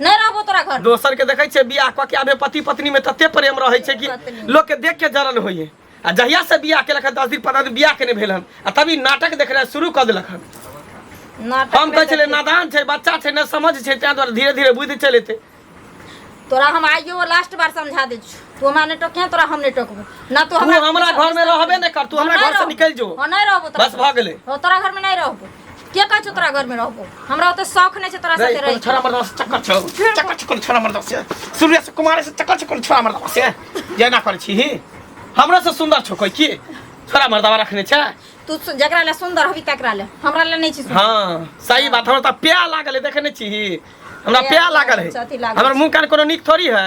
नहीं रहबो तोरा घर दोसर के देखे छे बियाह क के आबे पति पत्नी में तते प्रेम रहे छे कि लोग के देख के जरन होई है आ जहिया से बियाह के लखन दस दिन पंद्रह दिन बियाह के नहीं भेल हन आ तभी नाटक देखना शुरू कर दिलक हन नाटक हम में कहे छले देखी। नादान छे बच्चा छे न समझ छे तें द्वारा धीरे धीरे बुझ चले थे तोरा हम आइयो वो लास्ट बार समझा दे छु तू हमरा ने टोकिया तोरा हम ने टोकबो ना तू तू हमरा घर में रहबे नहीं कर तू हमरा घर से निकल जो हम नहीं रहबो तोरा बस घर। भऽ गेलै। हो तोरा घर में नहीं रहबो के कहै छौ तोरा घर में रहबो हमरा ओते शौक नहीं छै तोरा रे, साथे कोनो रहे छोरा मरदा से चक्कर छौ चक्कर छौ कोनो छोरा मरदा से सूर्य से कुमार से चक्कर छौ कोनो छोरा मरदा से ये ना करै छी ही हमरा से सुंदर छौ कोई की छोरा मरदा रखने छै तू सु- जकरा ले सुंदर हबी तकरा ले हमरा ले नहीं छी सुंदर। हाँ सही बात हमरा तऽ प्याह लागल है देखे नहीं छी ही हमरा प्याह प्याह लागल लागल है छै, अथी लागल हमर मुंह कान कोनो नीक थोड़ी है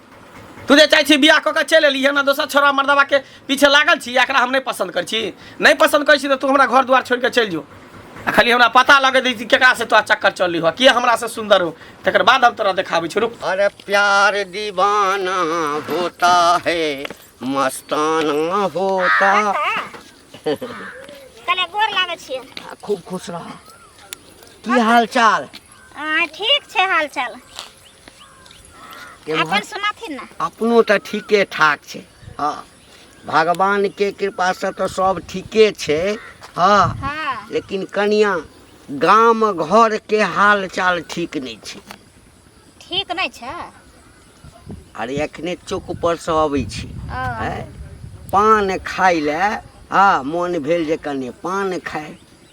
तू जे चाहै छी बियाह कऽ के चलि एलियै हमरा दोसर छोरा मर्दबा के पीछे लागल छी एकरा हम नहि पसन्द करै छी नहि पसन्द करै छी तऽ तू हमरा घर दुआर छोड़ि कऽ चलि जो आ खाली हमरा पता लगे दै छी केकरा से तोरा चक्कर चलि हो किया हमरा से सुंदर हो तकर बाद हम तोरा देखाबै छी रुक अरे प्यार दीवाना होता है मस्ताना होता कने गोर लागै छियै खूब खुश रह की हाल चाल आ ठीक छै हाल चाल केम्हर? अपन सुनाथिन ना अपनो तऽ ठीके ठाक छै हँ भगवानके कृपासँ तऽ सब ठीके छै हँ हाँ लेकिन कनिया गाम घरके हाल चाल ठीक नहि छै ठीक नहीं छै अरे एखने चौक पर से अबै छी आँय? पान खाय ले हँ मोन भेल जे कने पान खाय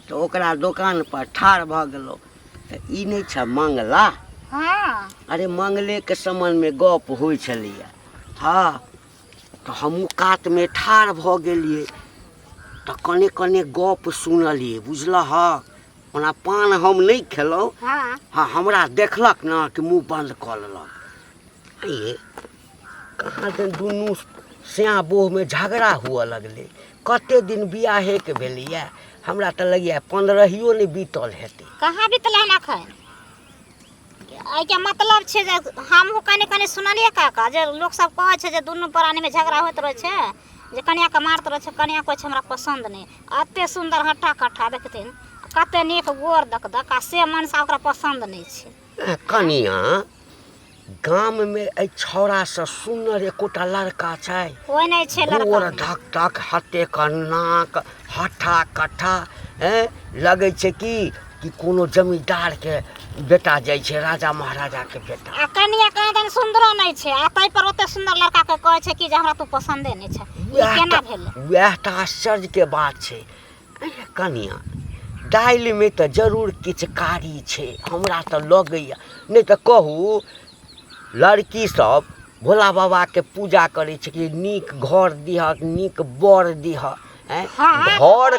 तऽ ओकरा दोकान पर ठाढ़ भऽ गेलहुँ तऽ ई नहि छै मंगला हँ अरे मंगलेके सम्बन्धमे गप होइ छलैए हँ तऽ हमहूँ कातमे ठाढ़ भऽ गेलियै तऽ कने कने गप सुनलियै बुझलह ओना पान हम नहि खेलहुँ हाँ हाँ हमरा देखलक ने कि मुँह बन्द कऽ लेलक ये कहाँ दिन दुनू स्याँ बोहमे झगड़ा हुअ लगलै कते दिन बियाहेके भेलैए हमरा तऽ लगैए पन्द्रहियो नहि बीतल हेतै कहाँ बितला ना खाए एहिके मतलब छै जे हमहूँ कनि कनि सुनलियै काका जे लोकसभ कहै छै जे दुनू प्राणीमे झगड़ा होइत रहै छै जे कनियाँके मारत रहै छै कनियाँ कहै छै हमरा पसन्द नहि एतेक सुन्दर हट्ठा कट्ठा देखथिन कतेक नीक गोर दक दक आ से मनसा ओकरा पसन्द नहि छै ए, कनिया गाम में ए छौड़ा से सुनर एकोटा लड़का छै कोइ नहि छै गोर लड़का धक धक हते नाक हट्ठा कट्ठा ए लगै छै कि कि कोनो जमींदार के बेटा जाइ छै राजा महाराजा के बेटा आ कनिया कहाँ दन सुन्दरो नहि छै आ ताहि पर ओते सुन्दर लड़का के कहै छै कि जे हमरा तू पसन्दे नहि छै ई वएह केना टा- भेलै वएह टा आश्चर्य के बात छै अरे कनिया दालि में तऽ जरूर किछु कारी छै हमरा तऽ लगैया नहि तऽ कहू लड़की सब भोला बाबा के पूजा करै छै कि नीक घर दिहक नीक बर दिहक ऐं? हँ, घर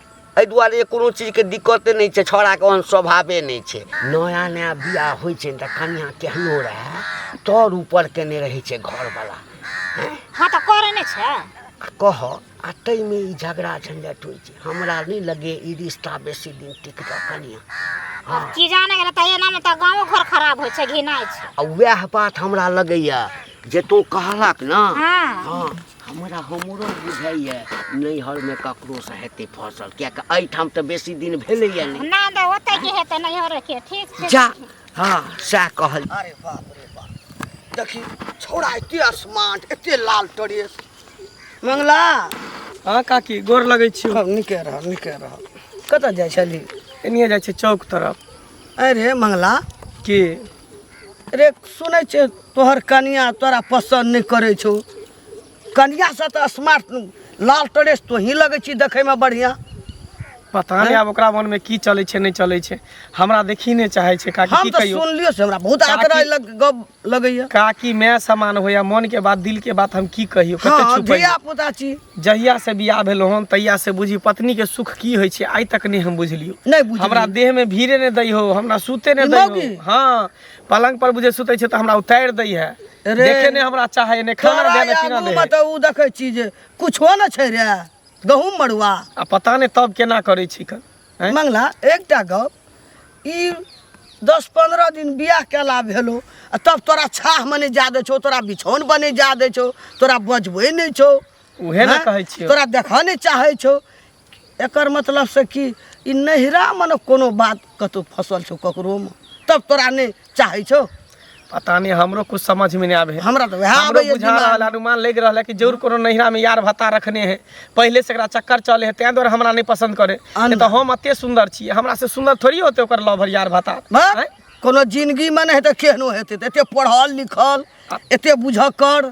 एहि दुआरे जे कोनो चीजके दिक्कते नहि छै छौड़ाके ओहन स्वभावे नहि छै नया नया बियाह होइ छै तऽ कनिया केहनो रहए तर ऊपर केने रहै छै घरवला हँ तऽ करै नहि छै आ कह आ ताहिमे ई झगड़ा झंझट होइ छै हमरा नहि लगे ई रिश्ता बेसी दिन टिकतऽ कनिया हँ की जाने गेलै तऽ एनामे तऽ गाँवो घर खराब होइ छै घिनाइ छै आ उएह बात हमरा लगैया जे तू कहलक ने हँ हँ हमरा हमरो बुझाइए नैहरमे ककरोसँ हेतै फसल किएक एहिठाम तऽ बेसी दिन भेलैए नहि ना दे ओते के हेतै नहीं हो रखे ठीक छै जा हँ सएह कहल अरे बाप रे बाप देखी छोड़ा एते आसमान एते लाल ड्रेस मंगला हाँ काकी गोर लगै छी अब निके रह निके रह कतऽ जाइ छली एनिए जाइ छी चौक तरफ अरे मंगला की रे सुनै छै तोहर कनिया तोरा पसन्द नहि करै छौ कनियासँ तऽ स्मार्ट लाल ड्रेस तोही लगै छी देखैमे बढ़िआँ पता नहि आब ओकरा मनमे की चलै छै नहि चलै छै हमरा देखी नहि चाहै छै काकी हम की तऽ कहियो सुनलियो से हमरा बहुत काकी- आदरा लग गप लगैया काकी माय समान होइया मन के बात दिल के बात हम की कहियो कते हँ छुपैया धिया पुता छी जहिया से बियाह भेलो हन तहिया से बुझी पत्नी के सुख की होय छै आइ तक नहीं हम बुझलियो नहीं बुझलियो। हमरा देह में भीड़े ने दै हो हमरा सूते ने दै हो हां पलंग पर बुझे सुते छै त हमरा उतार दै है देखे ने हमरा चाहे ने खाना दे ने पीना दे मत उ देखे छी जे कुछो न छै रे गहूम मड़ुआ आ पता ने तब केना करे छी कन हैं? मंगला एकटा गप ई दस पंद्रह दिन बियाह केला भेलो आ तब तोरा छाह मने जा दे छौ तोरा बिछौन बने जा दे छौ तोरा बजबै नहि छौ उहे ने हैं? कहै छियौ। तोरा देखऽ नहि चाहै छौ एकर मतलब से कि ई नहिरा मने कोनो बात कतौ फसल छौ ककरोमे तब तोरा नहि चाहै छौ पता नहीं हमरो कुछ समझ में नहीं आवे हमरा तो वह हमरो आबे बुझा रहल है, अनुमान लग रहल है कि जरूर कोनो नैहरा में यार भत्ता रखने है पहले से एकरा चक्कर चले है तें द्वारा हमरा नहीं पसंद करे अन- नहीं तो हम अते सुंदर छी हमरा से सुंदर थोड़ी होते ओकर लवर यार भत्ता हैं? कोनो जिंदगी में नहीं तो केहनो हेतै तऽ एते पढ़ल लिखल एते बुझऽ कर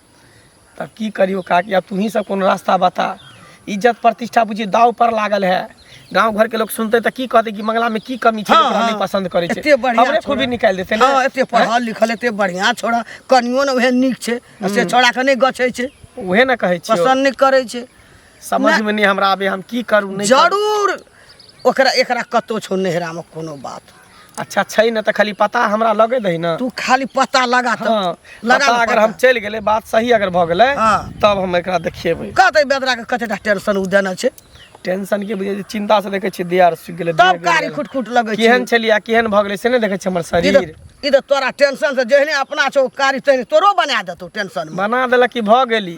तब की करियो काकी अब तुही सब कोनो रास्ता बता इज्जत प्रतिष्ठा बुझी दाव पर लागल है गांव घर के लोग सुनते त की कहते कि मंगला में की कमी छै हाँ, ओकरा नहीं हाँ। पसंद करे छै एते बढ़िया हमरे खूबी छोड़ा। निकाल देते ने हाँ एते पढ़ल लिखल एते बढ़िया छोड़ा कनियो ने उहे नीक छै आ से छोड़ा के नहि गछै छै उहे ना कहै छियो पसन्द नहि करै छै समझ में नहीं हमरा आबे हम की करू नहीं करू। जरूर ओकरा एकरा कतौ छौ नैहरा में कोनो बात अच्छा छै न त खाली पता हमरा लगे दही न तू खाली पता लगा त हाँ, लगा पता ले अगर पता। हम चल गेले बात सही अगर भ गेले हाँ। तब हम एकरा देखेबै कहते बेदरा के कतेटा टेंशन उ देना छै टेंशन के बुझे चिंता से देखे छी दियार सुख गेले तब देह कारी गेल। खुट खुट लगै छै केहन छलिया केहन भ गेले से नहीं देखे छी हमर ई शरीर त- ई त तोरा टेंशन से जेहने अपना छौ कारी तहने तोरो बना देतौ टेंशन में मना देलक कि भ गेली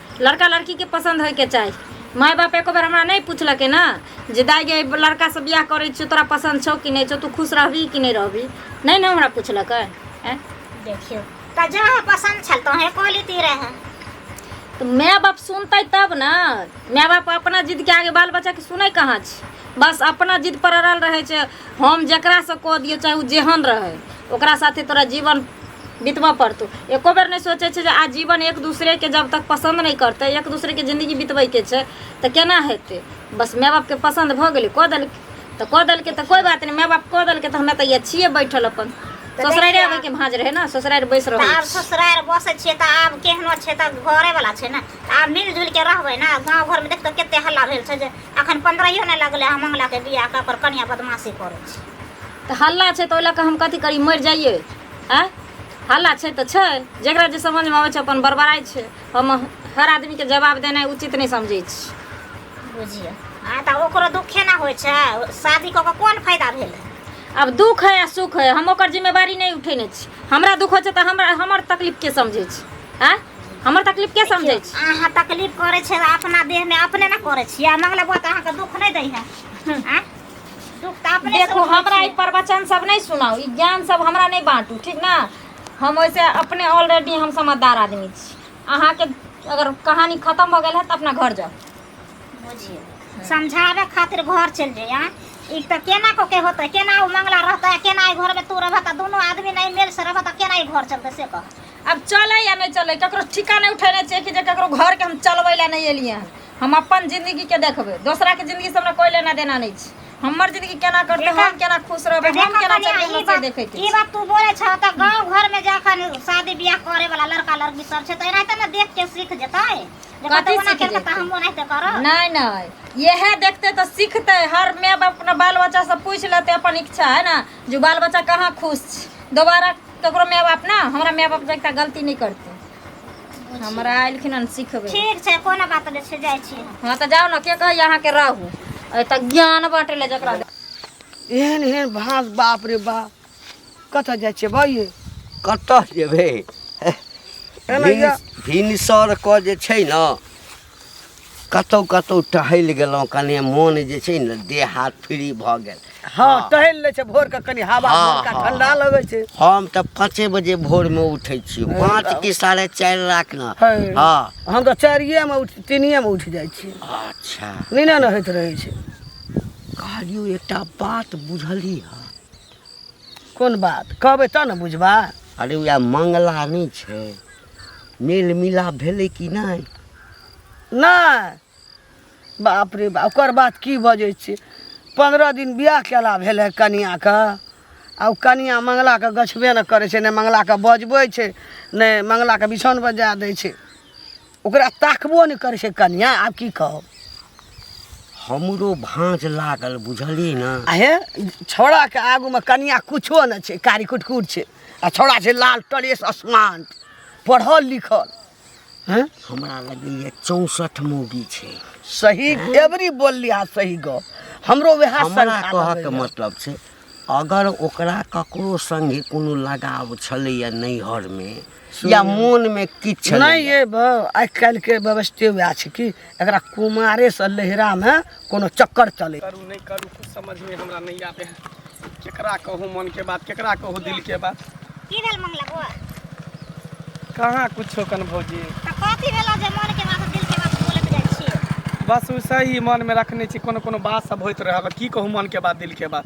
लड़का लड़कीके पसन्द होइके चाही माय बाप एको बेर हमरा नहि पुछलकै ने जे दाइ गे लड़कासँ बियाह करै छियौ तोरा पसन्द छौ कि नहि छौ तू खुश रहबही कि नहि रहबही नहि ने हमरा पुछलकै आँय? देखियो तऽ जहाँ पसन्द छल तहाँ कह लेती रहे तऽ माय बाप सुनतै तब ने माय बाप अपना जिदके आगे बाल बच्चाके सुनै कहाँ छै बस अपना जिद पर अड़ल रहै छै हम जकरासँ कऽ दियौ चाहे ओ जेहन रहै ओकरा साथे तोरा जीवन बितबऽ पड़तौ एको बेर नहि सोचै छै जे आ जीवन एक दूसरेके जब तक पसन्द नहि करतै एक दूसरेके जिन्दगी बितबैके छै तऽ केना हेतै बस माय बापके पसन्द भऽ गेलै कऽ देलकै तऽ कऽ देलकै तऽ कोइ बात नहि माय बाप कऽ देलकै तऽ हमे तऽ इएह छियै बैठल अपन ससुरारि आबैके भाँज रहै ने ससुरारि बैस तऽ रहल आब ससुरारि बसै छियै तऽ आब केहनो छै तऽ घरेवला छै ने तऽ आब मिलि जुलि कऽ रहबै ने गाँव घरमे देख तऽ कतेक हल्ला भेल छै जे अखन पन्द्रहियो नहि लगलै हम मंगलाके बियाह कऽ ओकर कनिया बदमाशी करै छै तऽ हल्ला छै तऽ ओहि लऽ कऽ हम कथी करी मरि जाइए आँय हल्ला छै तऽ छै जकरा जे समझमे अबै छै अपन बड़बड़ाइ छै हम हर आदमीके जवाब देनाइ उचित नहि समझै छी बुझियौ आ तऽ ओकरो दुखे ने होइ छै शादी कऽ कऽ कोन फायदा भेलै आब दुख है आ सुख है हम ओकर जिम्मेवारी नहि उठेने छी हमरा दुख होइ छै तऽ हमरा हमर तकलीफके समझै छी आँय हमर तकलीफ के समझै छी अहाँ तकलीफ करै छै अपना देह में अपने ना करै छी आ मंगला बुआ अहाँ के दुख नहीं दै है हम्म। दुख तो अपने देखो हमरा ई प्रवचन सब नहीं सुनाओ ई ज्ञान सब हमरा नहीं बांटू ठीक ना हम वैसे अपने ऑलरेडी हम समझदार आदमी छी अहाँ के अगर कहानी खत्म हो गई है तो अपना घर जाओ बुझिए समझावे खातिर घर चल जाइए हाँ? ई तो केना को के होते केना वो मंगला रहता है केना घर में तू रहता दोनों आदमी नहीं मेल से रहता केना घर चलते से कह अब चले या नहीं चले ककरो ठीका नहीं उठेने चाहिए कि जे ककरो घर के हम चलबे ला नहीं एलिए हन हम अपन जिंदगी के देखबे दोसरा के जिंदगी से हमरा कोई लेना देना नहीं छै हमर जिंदगी केना कटले देखा- हम केना खुश रहबे हम देखो केना कन्या, चलबे ई हमरा से बात- देखे के ई बात तू बोले छ त गांव घर में जाखन शादी बियाह करे वाला लड़का लड़की सब छै त एनाहिते ने देख के सीख जेतै जे कथी कतौ ओना सीख केलकै त जेतै? हम ओनाहिते करब नहीं नहीं यह देखते तो सीखते हर माय बाप अपना बाल बच्चा से पूछ लेते अपन इच्छा है ना जो बाल बच्चा कहाँ खुश छै दोबारा ककरो माय बाप ने हमरा माय बाप जकाँ गलती नहि करतै हमरा एलखिन हन सिखबै ठीक छै कोनो बात नहि छै जाइ छी हँ तऽ जाउ ने के कहैया अहाँके रहू अइ तऽ ज्ञान बाँटै लए जकरा दे- एहन एहन भाँस बाप रे बाप कतऽ जाइ छियै बा ये कतऽ जेबै एना या- भिनसर कऽ जे छै ने कतहु कतहु टहलि गेलहुँ कने मोन जे छै ने देह हाथ फ्री भऽ गेल हाँ टहल ले छै भोर के कनी हवा हाँ, भोर का हाँ। ठंडा लगे छै हम तऽ पाँचे बजे भोरमे उठै छी पाँच कि साढ़े चारि लाख ने है। हाँ हम तऽ चारिये में उठ तीनिये में उठ जाइ छी अच्छा नीने न होइत रहै छै कहलियौ एकटा बात बुझली हँ कोन बात कहबै तब ने बुझबा अरे उएह मंगला नहि छै मेल मिलाप भेलै कि नहि नहि बाप रे बाप ओकर बात की बजै छियै पन्द्रह दिन बियाह केला भेलै कनियाके आ ओ कनिया मंगलाके गछबे ने करै छै नहि मंगलाके बजबै छै नहि मंगलाके बिछौन बजा दै छै ओकरा ताकबो नहि करै छै कनिया आब की कहब हमरो भाँज लागल बुझलियै ने आ हे छौड़ाके आगूमे कनिया किछो नहि छै कारी कुटकुट छै आ छौड़ा छै लाल टरेस आसमान पढ़ल लिखल हैं हमरा लगैया चौसठ मौगी छै सही एवरी बोलली आ सही गप हमरो वएह हमरा शंका कहऽके लगैया। मतलब छै अगर ओकरा ककरो संगे कोनो लगाव छलैया नैहरमे या मोनमे किछु छलैया, नहीं ये ब- आइ काल्हि के व्यवस्थे वएह छै कि एकरा कुमारे से लहरा में कोनो चक्कर चले करू नहीं करू कुछ समझ में हमरा नहीं आवे है केकरा कहूँ मन के बात केकरा कहूँ दिल के बात की भेल मंगला बो कहाँ कुछो कन भौजी त कथी भेल जे मन के बात दिल के बात बोलत जाइ छी बस उसे ही मन में रखने छी कोनो कोनो बात सब होइत रहे अब की कहूँ मन के बात दिल के बात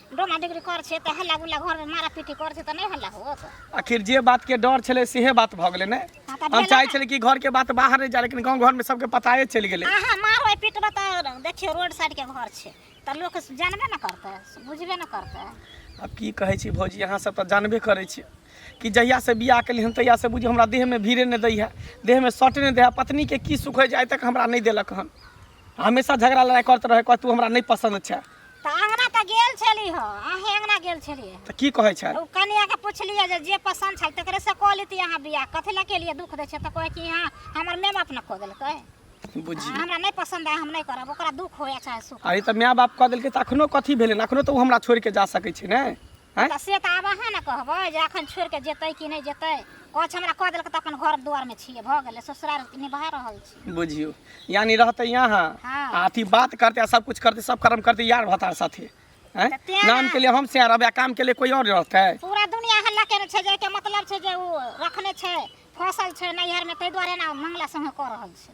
डोमा डिग्री कर छै तऽ हल्ला गुल्ला घरमे मारा पीटी कर छै तऽ नहि हल्ला होत आखिर जे बात के डर छले सेहे बात भऽ गेलै ने हँ, तऽ हम भेलै चाहै ने। छलियै कि घर के बात बाहर नहि जाए लेकिन गाँव घर में सबके पताए चलि गेलै अहाँ मारबै पीटबै तऽ देखियौ रोड साइडके घर छै तऽ लोक जानबे ने करतै बुझबे ने करतै अब की कहै छी भौजी अहाँ सब तऽ जानबे करै छी कि जहिया से बियाह केलियै हन तहिया से बुझियौ हमरा देह में भीड़े नहि दै है देह में सटे नहि दै है पत्नी के की सुख होइ छै आइ तक हमरा नहि देलक हन हमेशा झगड़ा लड़ाई करत रहे कह तू हमरा नहीं पसंद छै तऽ अङ्गना तऽ गेल छली हँ अहेँ अङ्गना गेल छलियै हँ। तऽ की कहै छै ओ कनियाके पुछलियै जे जे पसन्द छल तकरे से कऽ लेती अहाँ बियाह कथी लए केलियै दुख दै छै तऽ कहै कि अहाँ हमर माय बाप ने कऽ देलकै बुझी अहाँ हमरा नहि पसन्द आय हम नहि करब ओकरा दुख होय चाहे सुख अरे तऽ माय बाप कह देलकै तऽ अखनो कथी भेलै अखनो तऽ ओ हमरा छोड़ि कऽ जा सकै छै ने आँय? तऽ से तऽ आब अहाँ ने कहबै जे एखन छोड़ि कऽ जेतै कि नहि जेतै कछ हमरा कऽ देलकै तऽ अपन घर दुआरमे छियै भऽ गेलै ससुराल निभा रहल छी बुझियो यानी रहते यहाँ हाँ। आ अथी बात करते आ सब कुछ करते सब कर्म करते यार भतार साथे हैं? तऽ तें नाम ना। के लिए हम से रहबे आ काम के लिए कोई और रहते पूरा दुनिया हल्ला केने छै जे एके मतलब छै जे ओ रखने छै फसल छै नैहरमे ताहि दुआरे ने मंगला संगे कऽ रहल छै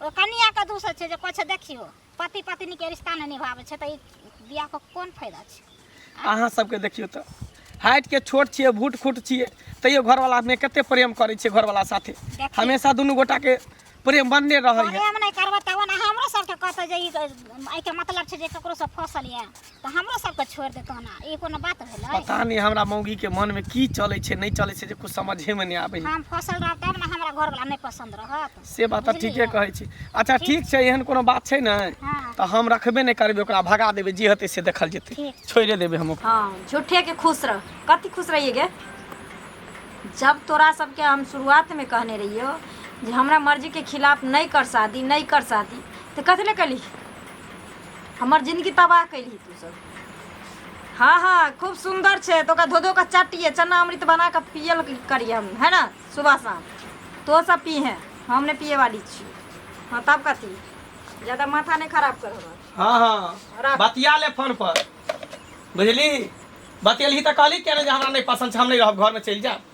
ओ कनिया के दूसर छै जे कछ देखियो पति पत्नी के रिश्ता नहि निभाबै छै तऽ ई बियाह के कोन फायदा छै अहाँ सबके देखियौ तऽ हाइट के छोट छियै भूट खुट छियै तैयो घरवाला मे कते प्रेम करै छियै घरवाला साथे देखियौ। हमेशा दुनू गोटा के प्रेम बनने रहै है प्रेम नहि करबै तब ने हमरो सबके कहतै जे ई एहिके मतलब छै जे ककरो से फसल यऽ तऽ हमरो सबके छोड़ि दे कहना ई कोनो बात भेलै पता नहि हमरा मौगी के मन में की चले छै नहीं चले छै जे कुछ समझे में नहीं आबे हम फसल रह तब ने हमरा घर वाला नहीं पसंद रहत से बात तऽ ठीके कहै छी अच्छा ठीक छै एहन कोनो बात छै ने हाँ तऽ हम रखबे नहीं करबे ओकरा भगा देबे जे हेतै से देखल जेतै ठीक छोड़े देबे हम ओकरा हाँ झूठे के खुश रह कति खुश रहिए गे जब तोरा सबके हम शुरुआत में कहने रहियो जे हमरा मर्जी के खिलाफ नहीं कर शादी नहीं कर शादी तो कथी ले कली हमर जिनगी तबाह कयलही तू सब हँ हँ खूब सुन्दर छै तऽ ओकरा धो धो कऽ चटिए चना अमृत बना कऽ पियल करिए हम है ने सुबह शाम तो सब पीहे हम नहि पिए वाली छियै हँ तब कथी ज्यादा माथा नहि खराब कर हमर हाँ हाँ राख। बतिया ले फोन पर बुझली बतियलही तऽ कहली किया नहि जे हमरा नहि पसन्द छै हम नहि रहब घरमे चलि जायब